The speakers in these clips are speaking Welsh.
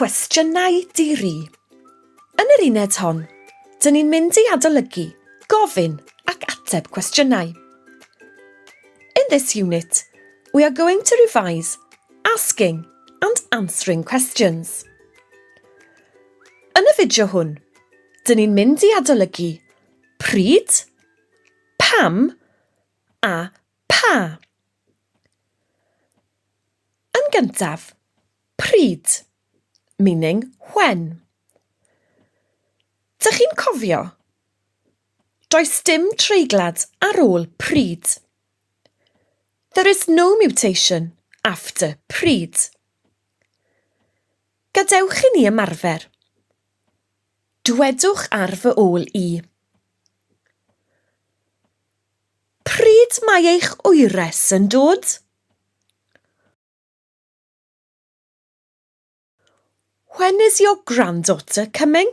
Cwestiynau diri. Yn yr uned hon, dyn ni'n mynd i adolygu, gofyn ac ateb cwestiynau. In this unit, we are going to revise asking and answering questions. Yn y fideo hwn, dyn ni'n mynd i adolygu pryd, Pam a pha? Yn gyntaf, pryd, meaning when. Dych chi'n cofio? Does dim treiglad ar ôl pryd. There is no mutation after pryd. Gadewch i ni ymarfer. Dwedwch ar fy ôl i. Pryd mae eich wyres yn dod? When is your granddaughter coming?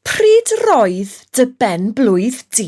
Pryd roedd dy ben-blwydd di?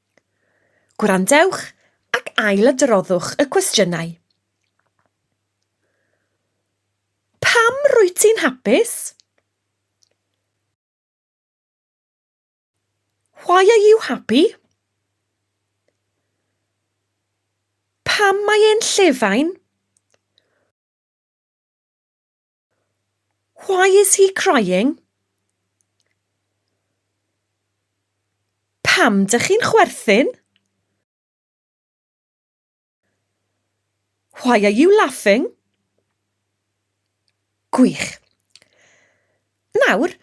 Gwrandewch ac ailadroddwch y cwestiynau. Pam rwyt ti'n hapus? Why are you happy? Pam mae e'n llefain? Why is he crying? Pam dych chi'n chwerthin? Why are you laughing? Gwych. Nawr,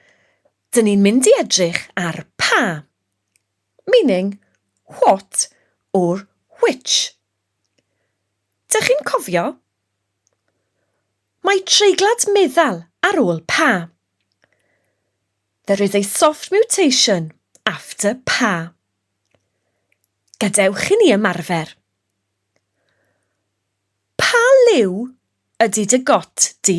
dyn ni'n mynd i edrych ar pa, meaning what or which. Dych chi'n cofio? Mae treiglad meddal ar ôl pa. There is a soft mutation after pa. Gadewch i ni ymarfer. Pa liw ydy dy got di?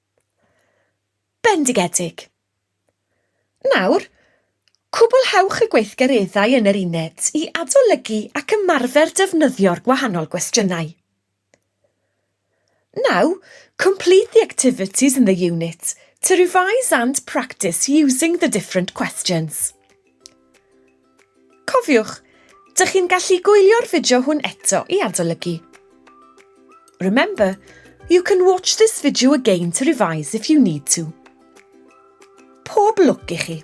Bendigedig. Nawr, cwblhewch y gweithgareddau yn yr uned i adolygu ac ymarfer defnyddio'r gwahanol gwestiynau. Now, complete the activities in the unit to revise and practice using the different questions. Cofiwch, dych chi'n gallu gwylio'r fideo hwn eto i adolygu. Remember, you can watch this video again to revise if you need to. Pob lwc i chi!